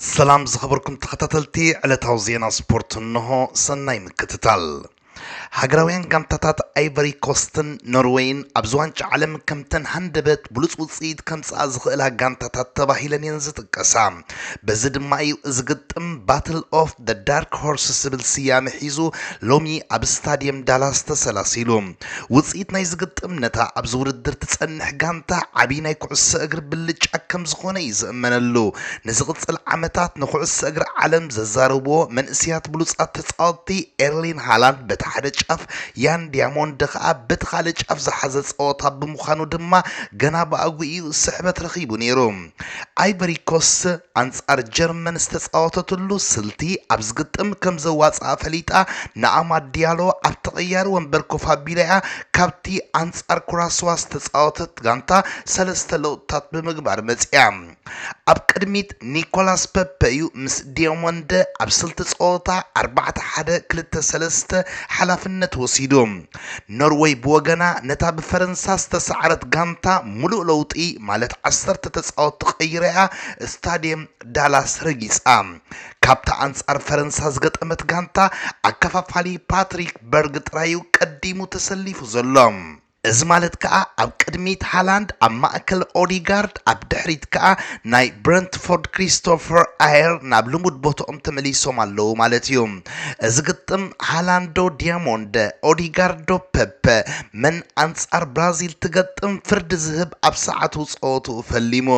ሰላም ዝኸበርኩም ተኸታተልቲ ዕለታዊ ዜና ስፖርት እንሆ ሰናይ ምክትታል ሃገራውያን ጋንታታት ኣይቨሪ ኮስትን ኖርወይን ኣብዚ ዋንጫ ዓለም ከምተን ሃንደበት ብሉፅ ውፅኢት ከምፅኣ ዝኽእላ ጋንታታት ተባሂለን እየን ዝጥቀሳ በዚ ድማ እዩ እዚ ግጥም ባትል ኦፍ ደ ዳርክ ሆርስ ዝብል ስያመ ሒዙ ሎሚ ኣብ ስታድየም ዳላስ ተሰላሲሉ ውጽኢት ናይዚ ግጥም ነታ ኣብዚ ውድድር ትጸንሕ ጋንታ ዓቢ ናይ ኩዕሶ እግሪ ብልጫ ከም ዝኾነ እዩ ዝእመነሉ። ንዝቕጽል ዓመታት ንኩዕሶ እግሪ ዓለም ዘዛርብዎ መንእሰያት ብሉጻት ተጻወትቲ ኤርሊን ሃላንድ በቲ ሓደ ጫፍ ያን ዲያሞንድ ከኣ በቲ ካልእ ጫፍ ዝሓዘ ጸወታ ብምዃኑ ድማ ገና ብኣግኡ እዩ ስሕበት ረኺቡ ነይሩ። ኣይቨሪኮስ ኣንጻር ጀርመን ዝተጻወተትሉ ስልቲ ኣብ ዝግጥም ከም ዘዋጽኣ ፈሊጣ ንኣማድ ዲያሎ ኣብ ተቐያሪ ወንበር ኮፍ ኣቢላ'ያ ካብቲ ኣንጻር ኩራስዋ ዝተጻወተት ጋንታ ሰለስተ ለውጥታት ብምግባር መጺኣ። ኣብ ቅድሚት ኒኮላስ ፐፐ እዩ ምስ ዲዮሞንደ ኣብ ስልቲ ጸወታ ኣርባዕተ ሓደ ክልተ ሰለስተ ሓላፍነት ወሲዱ። ኖርወይ ብወገና ነታ ብፈረንሳ ዝተሳዕረት ጋንታ ሙሉእ ለውጢ ማለት ዓሰርተ ተፃወትቲ ቀይራ'ያ ስታድየም ዳላስ ረጊፃ። ካብታ ኣንፃር ፈረንሳ ዝገጠመት ጋንታ ኣከፋፋሊ ፓትሪክ በርግ ጥራይ'ዩ ቀዲሙ ተሰሊፉ ዘሎ። እዚ ማለት ከኣ ኣብ ቅድሚት ሃላንድ፣ ኣብ ማእከል ኦዲጋርድ፣ ኣብ ድሕሪት ከኣ ናይ ብረንትፎርድ ክሪስቶፈር ኣየር ናብ ልሙድ ቦትኦም ተመሊሶም ኣለዉ ማለት'ዩ። እዚ ግጥም ሃላንዶ ዲያሞንድ፣ ኦዲጋርዶ ፐፐ መን ኣንጻር ብራዚል ትገጥም ፍርዲ ዝህብ ኣብ ሰዓቱ ጸወትኡ ፈሊሙ።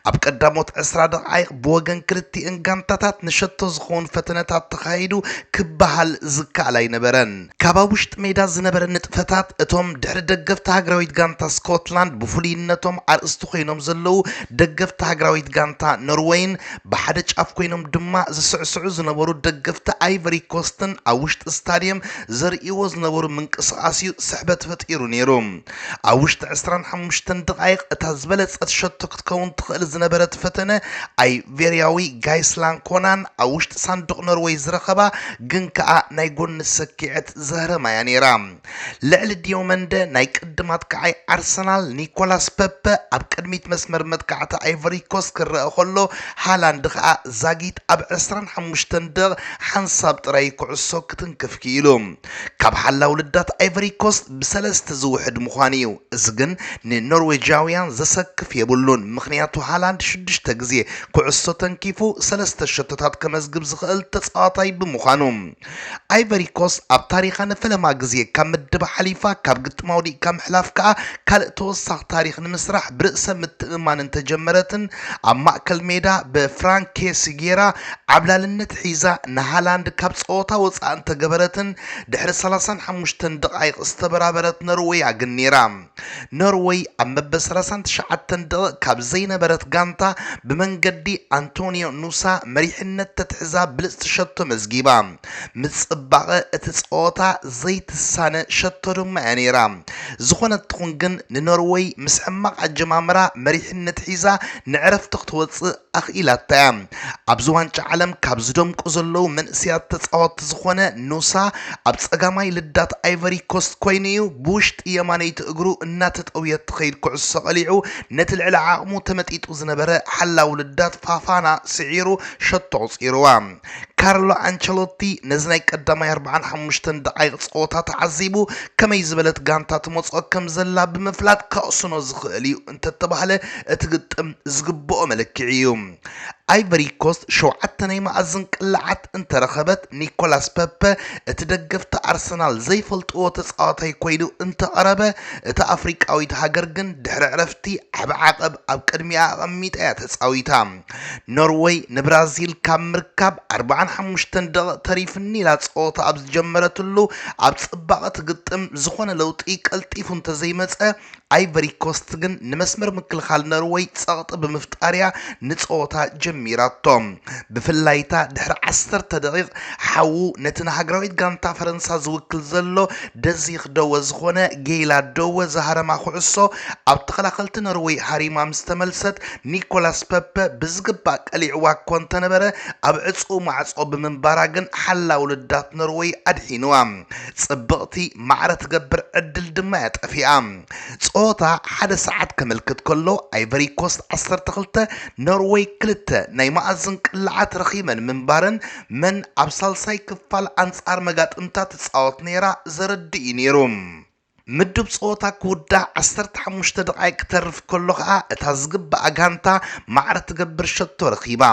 ኣብ ቀዳሞት ዕስራ ደቓይቕ ብወገን ክልቲኤን ጋንታታት ንሸቶ ዝኸውን ፈተነታት ተኻይዱ ክበሃል ዝከኣል ኣይነበረን። ካብ ኣብ ውሽጢ ሜዳ ዝነበረ ንጥፈታት፣ እቶም ድሕሪ ደገፍቲ ሃገራዊት ጋንታ ስኮትላንድ ብፍሉይነቶም ኣርእስቲ ኮይኖም ዘለዉ ደገፍቲ ሃገራዊት ጋንታ ኖርወይን፣ ብሓደ ጫፍ ኮይኖም ድማ ዝስዕስዑ ዝነበሩ ደገፍቲ ኣይቨሪኮስትን ኣብ ውሽጢ ስታድየም ዘርእይዎ ዝነበሩ ምንቅስቓስ'ዩ ስሕበት ፈጢሩ ነይሩ። ኣብ ውሽጢ ዕስራን ሓሙሽተን ደቓይቕ እታ ዝበለጸት ሸቶ ክትከውን ትኽእል ዝነበረት ፈተነ ኣይቬርያዊ ጋይስላን ኮናን ኣብ ውሽጢ ሳንዱቕ ኖርወይ ዝረኸባ ግን ከኣ ናይ ጎኒ ሰኪዐት ዘህረማ እያ ነይራ። ልዕሊ ዲዮመንደ ናይ ቅድም ኣጥቃዓይ ኣርሰናል ኒኮላስ ፐፐ ኣብ ቅድሚት መስመር መጥቃዕቲ ኣይቨሪኮስ ክረአ ከሎ ሃላንድ ከኣ ዛጊት ኣብ ዕስራን ሓሙሽተን ደቕ ሓንሳብ ጥራይ ኩዕሶ ክትንክፍ ክኢሉ። ካብ ሓላዊ ልዳት ኣይቨሪ ኮስት ብሰለስተ ዝውሕድ ምዃኑ እዩ። እዚ ግን ንኖርዌጃውያን ዘሰክፍ የብሉን፣ ምኽንያቱ ሃላንድ ሽዱሽተ ግዜ ኩዕሶ ተንኪፉ ሰለስተ ሸቶታት ከመዝግብ ዝኽእል ተጻዋታይ ብምዃኑ። ኣይቨሪ ኮስት ኣብ ታሪኻ ንፈለማ ግዜ ካብ ምድባ ሓሊፋ፣ ካብ ግጥማ ወዲቕካ ምሕላፍ ከኣ ካልእ ተወሳኺ ታሪኽ ንምስራሕ ብርእሰ ምትእምማን እንተጀመረትን፣ ኣብ ማእከል ሜዳ ብፍራንክ ኬሲ ጌራ ዓብላልነት ሒዛ ንሃላንድ ካብ ጸወታ ወጻኢ እንተገበረትን ድሕሪ ሰላሳን ሓሙሽተን ደቓይቕ ዝተበራበረት ኖርወያ ግን ኔራ። ኖርወይ ኣብ መበል ሰላሳን ትሽዓተን ደቕቕ ካብ ዘይነበረት ጋንታ ብመንገዲ ኣንቶንዮ ኑሳ መሪሕነት ተትሕዛ ብልጽቲ ሸቶ መዝጊባ። ምጽባቐ እቲ ጸወታ ዘይትሳነ ሸቶ ድማ እያ ነይራ። ዝኾነት ትኹን ግን ንኖርወይ ምስ ሕማቕ ኣጀማምራ መሪሕነት ሒዛ ንዕረፍቲ ክትወጽእ ኣኽኢላታ እያ። ኣብዚ ዋንጫ ዓለም ካብ ዝደምቁ ዘለዉ መንእሰያት ተጻወትቲ ዝኾነ ኑሳ ኣብ ጸጋማይ ልዳት ኣይቨሪ ኮስት ኮይኑ እዩ ብውሽጢ የማነይቲ እግሩ እናተጠውየት ትኸይድ ኩዕሶ ቀሊዑ ነቲ ልዕሊ ዓቕሙ ተመጢጡ ዝነበረ ሓላዊ ልዳት ፋፋና ስዒሩ ሸቶ ኣቑጺሩዋ። ካርሎ ኣንቸሎቲ ነዚ ናይ ቀዳማይ ኣርብዓን ሓሙሽተን ደቓይቕ ጸወታ ተዓዚቡ ከመይ ዝበለት ጋንታ ትመጽኦ ከም ዘላ ብምፍላጥ ከቕስኖ ዝኽእል እዩ እንተተባህለ እቲ ግጥም ዝግብኦ መለክዒ እዩ። ኣይቨሪ ኮስት ሸውዓተ ናይ መኣዝን ቅላዓት እንተረኸበት ኒኮላስ ፐፐ እቲ ደገፍቲ ኣርሰናል ዘይፈልጥዎ ተጻዋታይ ኮይኑ እንተቐረበ እታ ኣፍሪቃዊት ሃገር ግን ድሕሪ ዕረፍቲ ዓቢ ዓቐብ ኣብ ቅድሚኣ ኣቐሚጣ እያ ተጻዊታ። ኖርወይ ንብራዚል ካብ ምርካብ ኣርባዓን ሓሙሽተን ደቒቕ ተሪፍኒ ኢላ ጸወታ ኣብ ዝጀመረትሉ ኣብ ጽባቐ ትግጥም ዝኾነ ለውጢ ቀልጢፉ እንተዘይመጸ ኣይቨሪ ኮስት ግን ንመስመር ምክልኻል ኖርወይ ጸቕጢ ብምፍጣርያ ንጸወታ ጀሚራቶ ብፍላይታ ድሕሪ ዓሰርተ ደቒቕ ሓዉ ነቲ ንሃገራዊት ጋንታ ፈረንሳ ዝውክል ዘሎ ደዚኽ ደወ ዝኾነ ጌይላ ደወ ዝሃረማ ኩዕሶ ኣብ ተኸላኸልቲ ኖርወይ ሃሪማ ምስ ተመልሰት ኒኮላስ ፐፐ ብዝግባእ ቀሊዕዋ እኮ እንተነበረ ኣብ ዕጹው ማዕጾ ብምንባራ ግን ሓላው ልዳት ኖርወይ ኣድሒንዋ። ጽብቕቲ ማዕረ ትገብር ዕድል ድማ እያ ጠፊኣ። ጸወታ ሓደ ሰዓት ከምልክት ከሎ ኣይቨሪ ኮስት ዓሰርተ ክልተ ኖርወይ ክልተ ናይ መኣዝን ቅላዓት ረኺበን ምንባረን መን ኣብ ሳልሳይ ክፋል ኣንጻር መጋጥምታ ትጻወት ነይራ ዘረድእ እዩ ነይሩ። ምዱብ ጸወታ ክውዳእ ዓሰርተ ሓሙሽተ ደቓይቕ ክተርፍ ከሎ ከኣ እታ ዝግብኣ ጋንታ ማዕረ ትገብር ሸቶ ረኺባ።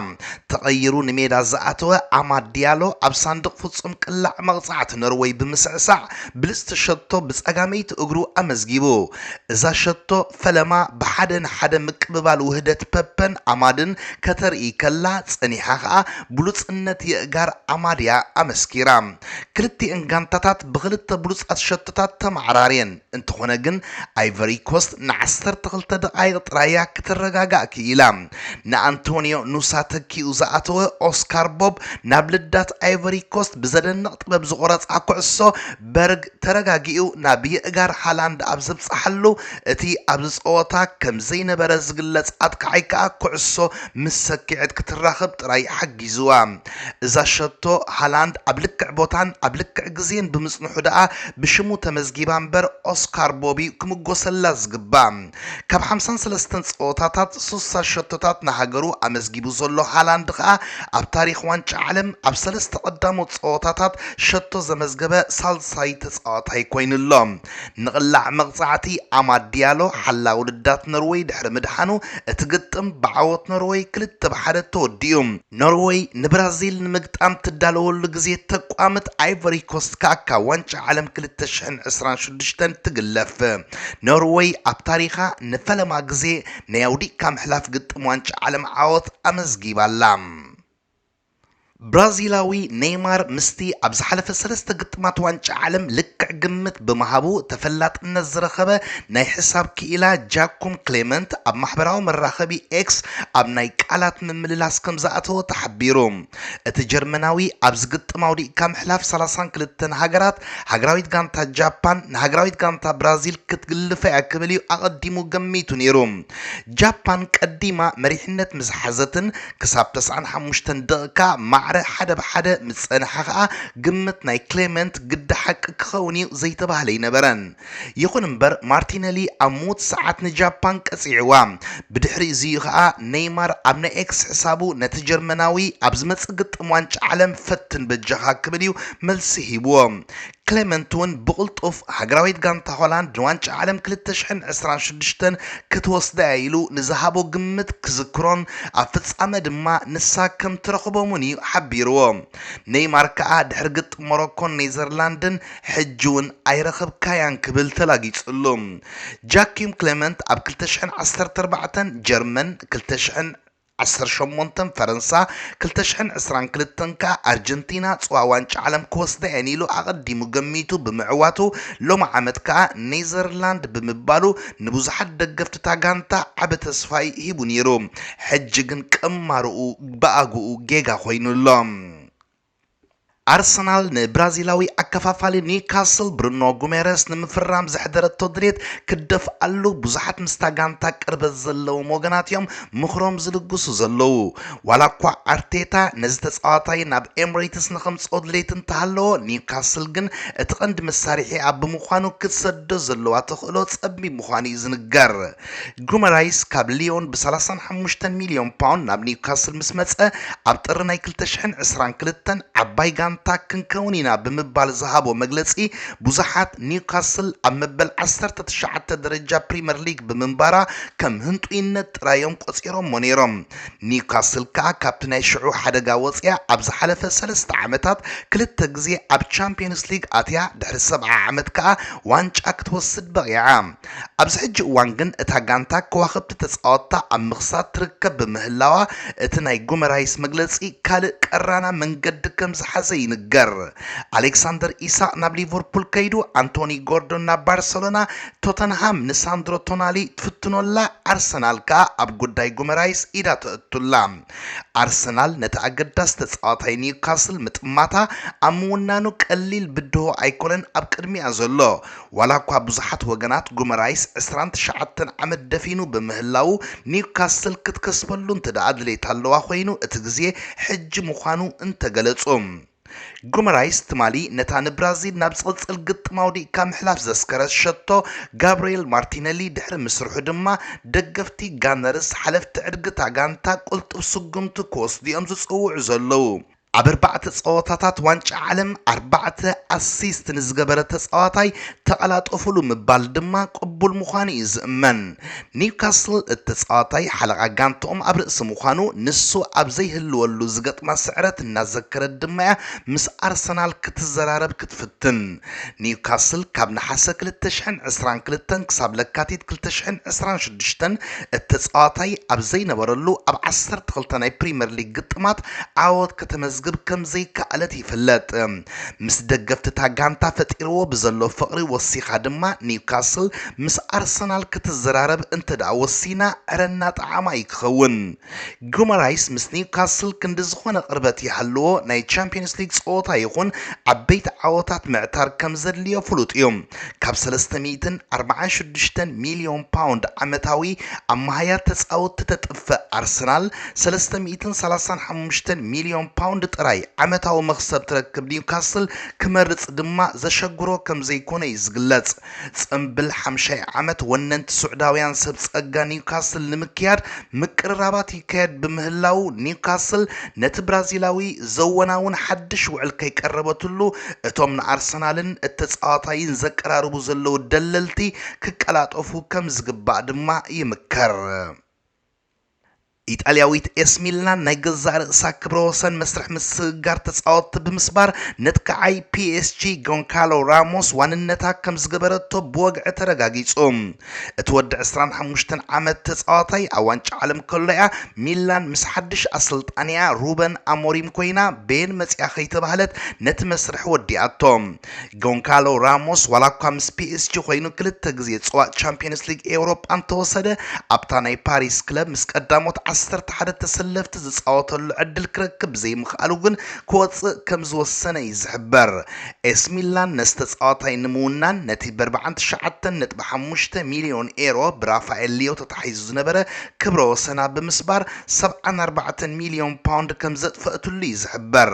ተቐይሩ ንሜዳ ዝኣተወ ኣማድ ዲያሎ ኣብ ሳንዱቕ ፍጹም ቅላዕ መቕጻዕቲ ኖርወይ ብምስዕሳዕ ብልጽቲ ሸቶ ብጸጋመይቲ እግሩ ኣመዝጊቡ። እዛ ሸቶ፣ ፈለማ ብሓደ ንሓደ ምቅብባል ውህደት ፐፐን ኣማድን ከተርኢ ከላ ጸኒሓ ከኣ ብሉጽነት የእጋር ኣማድ'ያ ኣመስኪራ። ክልቲኤን ጋንታታት ብኽልተ ብሉጻት ሸቶታት ተመዓራርየን፣ እንተኾነ ግን ኣይቨሪ ኮስት ንዓሰርተ ክልተ ደቓይቕ ጥራይ'ያ ክትረጋጋእ ክኢላ። ንኣንቶንዮ ኑሳ ተኪኡ ዝኣተወ ኦስካር ቦብ ናብ ልዳት ኣይቨሪ ኮስት ብዘደንቕ ጥበብ ዝቖረጻ ኩዕሶ፣ በርግ ተረጋጊኡ ናብ የእጋር ሃላንድ ኣብ ዝብጽሓሉ፣ እቲ ኣብዚ ጸወታ ከም ዘይነበረ ዝግለጽ ኣጥቃዓይ ከኣ ኩዕሶ ምስ ሰኪዔት ክትራኽብ ጥራይ ሓጊዙዋ። እዛ ሸቶ ሃላንድ ኣብ ልክዕ ቦታን ኣብ ልክዕ ግዜን ብምጽንሑ ደኣ ብሽሙ ተመዝጊባ እምበር ኦስካር ቦቢ ክምጎሰላ ዝግባእ። ካብ ሓምሳን ሰለስተን ጸወታታት ስሳ ሸቶታት ንሃገሩ ኣመዝጊቡ ዘሎ ሃላንድ ከኣ ኣብ ታሪኽ ዋንጫ ዓለም ኣብ ሰለስተ ቀዳሞት ጸወታታት ሸቶ ዘመዝገበ ሳልሳይ ተጻዋታይ ኮይኑ ኣሎ። ንቕላዕ መቕጻዕቲ ኣማድ ዲያሎ ሓላዊ ልዳት ኖርወይ ድሕሪ ምድሓኑ እቲ ግጥም ብዓወት ኖርወይ ክልተ ብ ሓደ ተወዲኡ። ኖርወይ ንብራዚል ንምግጣም ትዳለወሉ ግዜ ተቋምት ኣይቮሪኮስት ከኣ ካብ ዋንጫ ዓለም ክልተ ሽሕን ዕስራን ሽዱሽተን ትግለፍ። ኖርወይ ኣብ ታሪኻ ንፈለማ ግዜ ናይ ኣውዲቕካ ምሕላፍ ግጥም ዋንጫ ዓለም ዓወት ኣመዝጊባ ኣላ። ብራዚላዊ ነይማር ምስቲ ኣብ ዝሓለፈ ሰለስተ ግጥማት ዋንጫ ዓለም ልክዕ ግምት ብምሃቡ ተፈላጥነት ዝረኸበ ናይ ሕሳብ ክኢላ ጃኩም ክሌመንት ኣብ ማሕበራዊ መራኸቢ ኤክስ ኣብ ናይ ቃላት ፕረዚደንት ምምልላስ ከምዝኣተወ ተሓቢሩ። እቲ ጀርመናዊ ኣብዚ ግጥም ኣውዲቕካ ምሕላፍ ሰላሳን ክልተን ሃገራት፣ ሃገራዊት ጋንታ ጃፓን ንሃገራዊት ጋንታ ብራዚል ክትግልፋ'ያ ክብል'ዩ ኣቐዲሙ ገሚቱ ነይሩ። ጃፓን ቀዲማ መሪሕነት ምስ ሓዘትን ክሳብ ተስዓን ሓሙሽተን ደቒቃ ማዕረ ሓደ ብ ሓደ ምስ ጸንሐ ከኣ ግምት ናይ ክሌመንት ግዲ ሓቂ ክኸውን'ዩ ዘይተባህለ ኣይነበረን። ይኹን እምበር ማርቲነሊ ኣብ ምዉት ሰዓት ንጃፓን ቀጺዕዋ። ብድሕሪ እዚ'ዩ ከኣ ነይማር ኣብ ናይ ኤክስ ሕሳቡ ነቲ ጀርመናዊ ኣብ ዝመጽእ ግጥም ዋንጫ ዓለም ፈትን በጃኻ ክብል'ዩ መልሲ ሂብዎ። ክለመንት'ውን ብቕልጡፍ ሃገራዊት ጋንታ ሆላንድ ንዋንጫ ዓለም ክልተ ሽሕን ዕስራን ሽዱሽተን ክትወስዳ'ያ ኢሉ ንዝሃቦ ግምት ክዝክሮን ኣብ ፍጻመ ድማ ንሳ ከም ትረኽቦምን'ዩ ሓቢርዎ። ነይማር ከኣ ድሕሪ ግጥም ሞሮኮን ኔዘርላንድን ሕጂ'ውን ኣይረኸብካያን ክብል ተላጊጹሉ። ጃኪም ክለመንት ኣብ ክልተ ሽሕን ዓሰርተ ኣርባዕተን ጀርመን፣ ክልተ ሽሕን ዓሰርተ ሸሞንተን ፈረንሳ፣ ክልተ ሽሕን ዕስራን ክልተን ከኣ ኣርጀንቲና ጽዋ ዋንጫ ዓለም ክወስዳ'የን ኢሉ ኣቐዲሙ ገሚቱ ብምዕዋቱ፣ ሎምዓመት ከኣ ኔዘርላንድ ብምባሉ ንብዙሓት ደገፍቲ'ታ ጋንታ ዓቢ ተስፋ'ዩ ሂቡ ነይሩ። ሕጂ ግን ቅማረኡ ብኣግኡ ጌጋ ኮይኑ'ሎ። ኣርሰናል ንብራዚላዊ ኣከፋፋሊ ኒውካስል ብሩኖ ጉሜረስ ንምፍራም ዘሕደረቶ ድሌት ክደፍኣሉ ብዙሓት ምስታ ጋንታ ቅርበት ዘለዎም ወገናት እዮም ምኽሮም ዝልግሱ ዘለዉ። ዋላኳ ኣርቴታ ነዚ ተጻዋታይ ናብ ኤምሬትስ ንኸምጽኦ ድሌት እንተሃለዎ፣ ኒውካስል ግን እቲ ቀንዲ መሳርሒኣ ብምዃኑ ክትሰዶ ዘለዋ ተኽእሎ ጸቢብ ምዃኑ እዩ ዝንገር። ጉመራይስ ካብ ልዮን ብሰላሳን ሓሙሽተን ሚልዮን ፓውንድ ናብ ኒውካስል ምስ መጸ፣ ኣብ ጥሪ ናይ ክልተ ሽሕን ዕስራን ክልተን ዓባይ ጋንታ ክንከውን ኢና ብምባል ዝሃቦ መግለጺ ብዙሓት ኒውካስል ኣብ መበል ዓሰርተ ትሽዓተ ደረጃ ፕሪመር ሊግ ብምንባራ ከም ህንጡይነት ጥራይ'ዮም ቆጺሮሞ ነይሮም። ኒውካስል ከኣ ካብቲ ናይ ሽዑ ሓደጋ ወጺኣ ኣብ ዝሓለፈ ሰለስተ ዓመታት ክልተ ግዜ ኣብ ቻምፕዮንስ ሊግ ኣትያ ድሕሪ ሰብዓ ዓመት ከኣ ዋንጫ ክትወስድ በቒዓ። ኣብዚ ሕጂ እዋን ግን እታ ጋንታ ከዋኽብቲ ተጻወትታ ኣብ ምኽሳት ትርከብ ብምህላዋ፣ እቲ ናይ ጉመራይስ መግለጺ ካልእ ቀራና መንገዲ ከም ዝሓዘ ይንገር። ኣሌክሳንደር ኢሳቕ ናብ ሊቨርፑል ከይዱ፣ ኣንቶኒ ጎርዶን ናብ ባርሰሎና፣ ቶተንሃም ንሳንድሮ ቶናሊ ትፍትኖ ኣላ፣ ኣርሰናል ከኣ ኣብ ጉዳይ ጉመራይስ ኢዳ ተእቱ ኣላ። ኣርሰናል ነቲ ኣገዳሲ ተጻዋታይ ኒውካስል ምጥማታ ኣብ ምውናኑ ቀሊል ብድሆ ኣይኮነን ኣብ ቅድሚኣ ዘሎ። ዋላኳ ብዙሓት ወገናት ጉመራይስ ዕስራን ትሽዓተን ዓመት ደፊኑ ብምህላዉ ኒውካስል ክትከስበሉ እንተድኣ ድሌት ኣለዋ ኮይኑ እቲ ግዜ ሕጂ ምዃኑ እንተገለጹ ጉመራይስ ትማሊ ነታ ንብራዚል ናብ ዝቕጽል ግጥም ኣውዲቕካ ምሕላፍ ዘስከረት ሸቶ ጋብርኤል ማርቲነሊ ድሕሪ ምስርሑ ድማ ደገፍቲ ጋነርስ ሓለፍቲ ዕድግ'ታ ጋንታ ቅልጡፍ ስጉምቲ ክወስዱ'ዮም ዝጽውዑ ዘለዉ። ኣብ ኣርባዕተ ፀወታታት ዋንጫ ዓለም ኣርባዕተ ኣሲስት ንዝገበረ ተፃዋታይ ተቐላጠፉሉ ምባል ድማ ቅቡል ምዃኑ እዩ ዝእመን። ኒውካስል እቲ ተፃዋታይ ሓለቓ ጋንትኦም ኣብ ርእሲ ምዃኑ ንሱ ኣብ ዘይህልወሉ ዝገጥማ ስዕረት እናዘከረት ድማ እያ ምስ ኣርሰናል ክትዘራረብ ክትፍትን። ኒውካስል ካብ ነሓሰ ክልተ ሽሕን ዕስራን ክልተን ክሳብ ለካቲት ክልተ ሽሕን ዕስራን ሽዱሽተን እተጻዋታይ ኣብ ዘይነበረሉ ኣብ ዓሰርተ ክልተ ናይ ፕሪመር ሊግ ግጥማት ዓወት ከተመዝግብ ከም ዘይከኣለት ይፍለጥ። ምስ ደገፍቲ'ታ ጋንታ ፈጢርዎ ብዘሎ ፍቕሪ ወሲኻ ድማ ኒውካስል ምስ ኣርሰናል ክትዘራረብ እንተደኣ ወሲና ዕረ እናጠዓማ'ዩ ክኸውን። ጉመራይስ ምስ ኒውካስል ክንዲ ዝኾነ ቅርበት ይሃልዎ ናይ ቻምፕዮንስ ሊግ ጸወታ ይኹን ዓበይቲ ዓወታት ምዕታር ከም ዘድልዮ ፍሉጥ እዩ። ካብ ሰለስተ ሚእትን ኣርብዓን ሽዱሽተን ሚልዮን ፓውንድ ዓመታዊ ኣማሃያር ተጻወትቲ ተጥፍእ ኣርሰናል፣ ሰለስተ ሚእትን ሰላሳን ሓሙሽተን ሚልዮን ፓውንድ ጥራይ ዓመታዊ መኽሰብ ትረክብ ኒውካስል ክመርጽ ድማ ዘሸግሮ ከም ዘይኮነ እዩ ዝግለጽ። ጽምብል ሓምሻይ ዓመት ወነንቲ ሱዕዳውያን ሰብ ጸጋ ኒውካስል ንምክያድ ምቅርራባት ይካየድ ብምህላዉ ኒውካስል ነቲ ብራዚላዊ ዘወናውን ሓድሽ ውዕል ከይቀረበትሉ እቶም ንኣርሰናልን እተጻዋታይን ዘቀራርቡ ዘለዉ ደለልቲ ክቀላጠፉ ከምዝግባእ ድማ ይምከር። ኢጣልያዊት ኤስ ሚላን ናይ ገዛእ ርእሳ ክብረ ወሰን መስርሕ ምስግጋር ተጻወትቲ ብምስባር ነትካዓይ ፒኤስጂ ጎንካሎ ራሞስ ዋንነታ ከምዝገበረቶ ብወግዒ ተረጋጊጹ። እቲ ወዲ ዕስራን ሓሙሽተን ዓመት ተጻዋታይ ኣብ ዋንጫ ዓለም ከሎ'ያ ሚላን ምስ ሓድሽ ኣሰልጣኒኣ ሩበን ኣሞሪም ኮይና በየን መጺኣ ከይተባህለት ነቲ መስርሕ ወዲኣቶ። ጎንካሎ ራሞስ ዋላኳ ምስ ፒኤስጂ ኮይኑ ክልተ ግዜ ጸዋእ ቻምፕዮንስ ሊግ ኤውሮጳ እንተወሰደ፣ ኣብታ ናይ ፓሪስ ክለብ ምስ ቀዳሞት ዓሰርተ ሓደ ተሰለፍቲ ዝጻወተሉ ዕድል ክረክብ ብዘይምኽኣሉ ግን ክወጽእ ከምዝወሰነ እዩ ዝሕበር። ኤሲ ሚላን ነዚ ተጻዋታይ ንምውናን ነቲ በርብዓን ትሽዓተን ነጥቢ ሓሙሽተ ሚልዮን ኤሮ ብራፋኤል ሊዮ ተታሒዙ ዝነበረ ክብረ ወሰና ብምስባር ሰብዓን ኣርባዕተን ሚልዮን ፓውንድ ከምዘጥፈእትሉ እዩ ዝሕበር።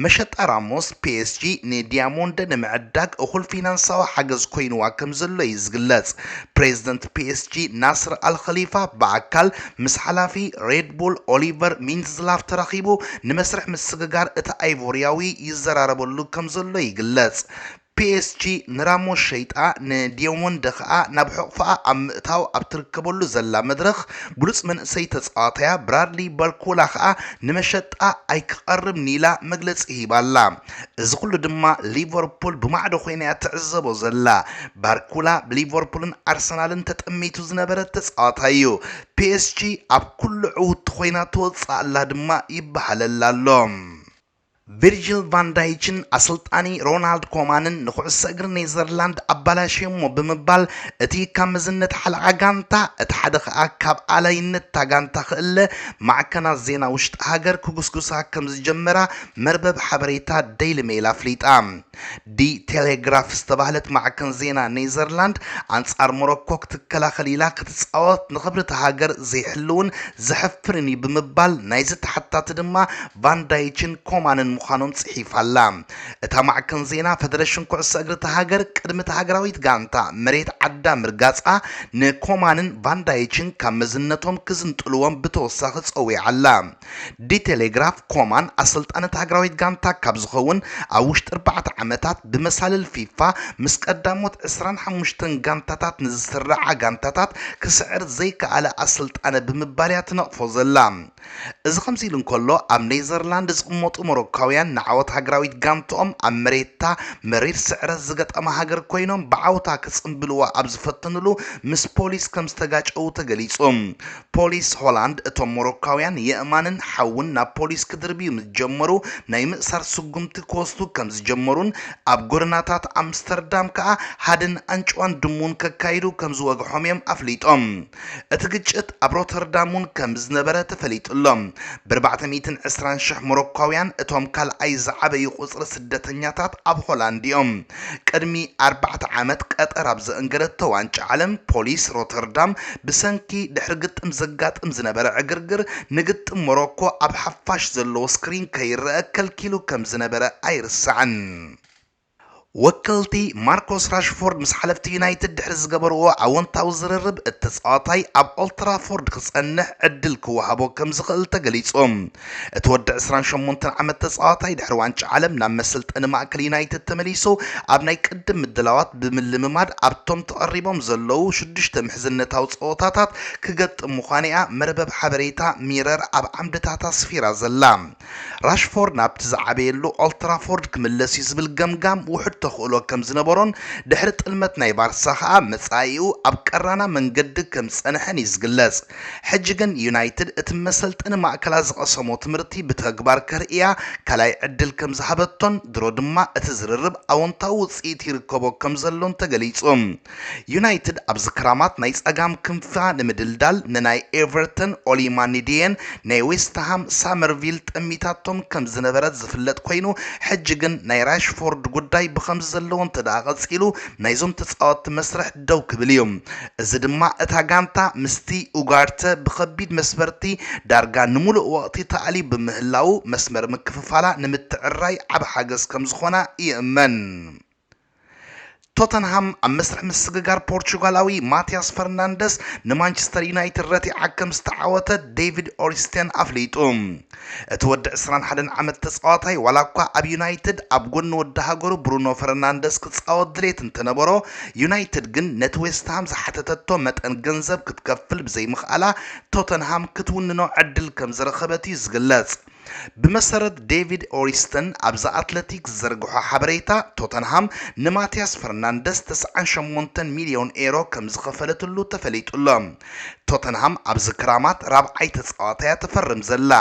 መሸጣ ራሞስ፣ ፒኤስጂ ንዲያሞንደ ንምዕዳግ እኹል ፊናንሳዊ ሓገዝ ኮይኑዋ ከምዘሎ'ዩ ዝግለጽ። ፕሬዝደንት ፒኤስጂ ናስር ኣል-ኸሊፋ ብኣካል ምስ ሓላፊ ሬድ ቡል ኦሊቨር ሚንድዝላፍ ተራኺቡ ንመስርሕ ምስግጋር እቲ ኣይቮርያዊ ይዘራረበሉ ከምዘሎ ይግለጽ። ፒኤስጂ ንራሞስ ሸይጣ ንዲዮሞንደ ከኣ ናብ ሕቑፋኣ ኣብ ምእታው ኣብ ትርከበሉ ዘላ መድረኽ ብሉጽ መንእሰይ ተጻዋታያ ብራድሊ ባርኮላ ከኣ ንመሸጣ ኣይክቐርብን ኢላ መግለጺ ሂባ ኣላ። እዚ ኩሉ ድማ ሊቨርፑል ብማዕዶ ኮይና'ያ ትዕዘቦ ዘላ። ባርኮላ ብሊቨርፑልን ኣርሰናልን ተጠሚቱ ዝነበረ ተጻዋታይ'ዩ። ፒኤስጂ ኣብ ኩሉ ዕውቲ ኮይና ትወጽእ ኣላ ድማ ይበሃለላ ኣሎ። ቪርጅል ቫን ዳይችን ኣሰልጣኒ ሮናልድ ኮማንን ንኩዕሶ እግሪ ኔዘርላንድ ኣባላሽዮሞ ብምባል እቲ ካብ መዝነት ሓለቓ ጋንታ እቲ ሓደ ከኣ ካብ ኣላይነት እታ ጋንታ ክእለ ማዕከናት ዜና ውሽጢ ሃገር ክጉስጉሳ ከምዝጀመራ መርበብ ሓበሬታ ደይሊ ሜይል ኣፍሊጣ። ዲ ቴሌግራፍ ዝተባህለት ማዕከን ዜና ኔዘርላንድ፣ ኣንጻር ሞሮኮ ክትከላኸል ኢላ ክትጻወት ንኽብሪ'ታ ሃገር ዘይሕልውን ዘሕፍርን እዩ ብምባል ናይዚ ተሓታቲ ድማ ቫን ዳይችን ኮማንን ምዃኖም ጽሒፋ'ላ። እታ ማዕከን ዜና፣ ፈደረሽን ኩዕሶ እግሪ'ታ ሃገር ቅድሚ'ታ ሃገራዊት ጋንታ መሬት ዓዳ ምርጋጻ ንኮማንን ቫን ዳይችን ካብ መዝነቶም ክዝንጥልዎም ብተወሳኺ ጸዊዓ'ላ። ዲ ቴሌግራፍ ኮማን ኣሰልጣኒት ሃገራዊት ጋንታ ካብ ዝኸውን ኣብ ውሽጢ ኣርባዕተ ዓመታት ብመሳልል ፊፋ ምስ ቀዳሞት ዕስራን ሓሙሽተን ጋንታታት ንዝስርዓ ጋንታታት ክስዕር ዘይከኣለ ኣሰልጣኒ ብምባል እያ ትነቕፎ ዘላ። እዚ ከምዚ ኢሉ እንከሎ ኣብ ኔዘርላንድ ዝቕመጡ ሞሮካውያን ንዓወት ሃገራዊት ጋንትኦም ኣብ መሬታ መሪር ስዕረት ዝገጠማ ሃገር ኮይኖም ብዓውታ ክጽንብልዋ ኣብ ዝፈተንሉ ምስ ፖሊስ ከምዝተጋጨዉ ተገሊጹ። ፖሊስ ሆላንድ እቶም ሞሮካውያን የእማንን ሓውን ናብ ፖሊስ ክድርብዩ ምስ ጀመሩ ናይ ምእሳር ስጉምቲ ክወስዱ ከም ዝጀመሩን ኣብ ጎደናታት ኣምስተርዳም ከኣ ሃድን ኣንጭዋን ድሙን ከካይዱ ከም ዝወግሖም'ዮም ኣፍሊጦም። እቲ ግጭት ኣብ ሮተርዳም'ውን ከም ዝነበረ ተፈሊጡ'ሎ። ብርባዕተ ሚእትን ዕስራን ሽሕ ሞሮካውያን እቶም ካልኣይ ዝዓበዩ ቁጽሪ ስደተኛታት ኣብ ሆላንድ'ዮም። ቅድሚ ኣርባዕተ ዓመት ቀጠር ኣብ ዘእንገደቶ ዋንጫ ዓለም ፖሊስ ሮተርዳም ብሰንኪ ድሕሪ ግጥም ዘጋጥም ዝነበረ ዕግርግር ንግጥም ሞሮኮ ኣብ ሓፋሽ ዘለዎ ስክሪን ከይረኣ ከልኪሉ ከም ዝነበረ ኣይርሳዕን። ወከልቲ ማርኮስ ራሽፎርድ ምስ ሓለፍቲ ዩናይትድ ድሕሪ ዝገበርዎ ኣወንታዊ ዝርርብ እቲ ተጻዋታይ ኣብ ኦልትራፎርድ ክጸንሕ ዕድል ክወሃቦ ከም ዝኽእል ተገሊጹ። እቲ ወዲ ዕስራን ሸሞንተን ዓመት ተጻዋታይ ድሕሪ ዋንጫ ዓለም ናብ መሰልጠኒ ማእከል ዩናይትድ ተመሊሱ ኣብ ናይ ቅድም ምድላዋት ብምልምማድ ኣብቶም ተቐሪቦም ዘለዉ ሽዱሽተ ምሕዝነታዊ ጸወታታት ክገጥም ምዃኑ'ያ መርበብ ሓበሬታ ሚረር ኣብ ዓምድታታ ኣስፊራ ዘላ። ራሽፎርድ ናብቲ ዝዓበየሉ ኦልትራፎርድ ክምለስ'ዩ ዝብል ገምጋም ውሑድ ተኽእሎ ከም ዝነበሮን ድሕሪ ጥልመት ናይ ባርሳ ከኣ መጻኢኡ ኣብ ቀራና መንገዲ ከም ዝጸንሐን'ዩ ዝግለጽ። ሕጂ ግን ዩናይትድ እቲ መሰልጠኒ ማእከላ ዝቐሰሞ ትምህርቲ ብተግባር ከርእያ ካልኣይ ዕድል ከም ዝሃበቶን ድሮ ድማ እቲ ዝርርብ ኣወንታዊ ውጽኢት ይርከቦ ከም ዘሎን ተገሊጹ። ዩናይትድ ኣብዚ ክራማት ናይ ጸጋም ክንፋ ንምድልዳል ንናይ ኤቨርተን ኦሊ ማኒዲየን ናይ ዌስትሃም ሳመርቪል ጠሚታቶም ከም ዝነበረት ዝፍለጥ ኮይኑ ሕጂ ግን ናይ ራሽፎርድ ጉዳይ ብኸምዚ ዘለዎ እንተደኣ ቀጺሉ ናይዞም ተጻወትቲ መስርሕ ደው ክብል እዩ። እዚ ድማ እታ ጋንታ ምስቲ ኡጋርተ ብኸቢድ መስበርቲ ዳርጋ ንምሉእ ወቕቲ ተኣልዩ ብምህላዉ መስመር ምክፍፋላ ንምትዕርራይ ዓቢ ሓገዝ ከም ዝኾና ይእመን። ቶተንሃም ኣብ መስርሕ ምስግጋር ፖርቹጋላዊ ማቲያስ ፈርናንደስ ንማንቸስተር ዩናይትድ ረቲዓ ከም ዝተዓወተት ዴቪድ ኦሪስቴን ኣፍሊጡ። እቲ ወዲ ዕስራን ሓደን ዓመት ተጻዋታይ ዋላኳ ኣብ ዩናይትድ ኣብ ጎኒ ወዲ ሃገሩ ብሩኖ ፈርናንደስ ክጻወት ድሌት እንተነበሮ፣ ዩናይትድ ግን ነቲ ዌስትሃም ዝሓተተቶ መጠን ገንዘብ ክትከፍል ብዘይምኽኣላ ቶተንሃም ክትውንኖ ዕድል ከምዝረኸበት'ዩ ዝግለጽ። ብመሰረት ዴቪድ ኦሪስተን ኣብ ዘ ኣትለቲክ ዝዘርግሖ ሓበሬታ፣ ቶተንሃም ንማትያስ ፈርናንደስ ተስዓን ሸሞንተን ሚልዮን ኤሮ ከምዝኸፈለትሉ ተፈሊጡ'ሎ። ቶተንሃም ኣብዚ ክራማት ራብዓይ ተጻዋታያ ትፈርም ዘላ።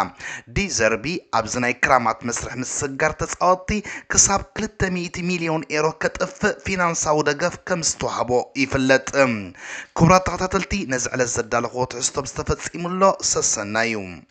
ዲ ዘርቢ ኣብዚ ናይ ክራማት መስርሕ ምስግጋር ተጻወትቲ ክሳብ ክልተ ሚእቲ ሚልዮን ኤሮ ከጥፍእ ፊናንሳዊ ደገፍ ከምዝተዋህቦ ይፍለጥ። ክቡራት ተኸታተልቲ ነዚ ዕለት ዘዳለኹዎ ትሕዝቶ ምስ ተፈጺሙ ኣሎ ሰሰናዩ።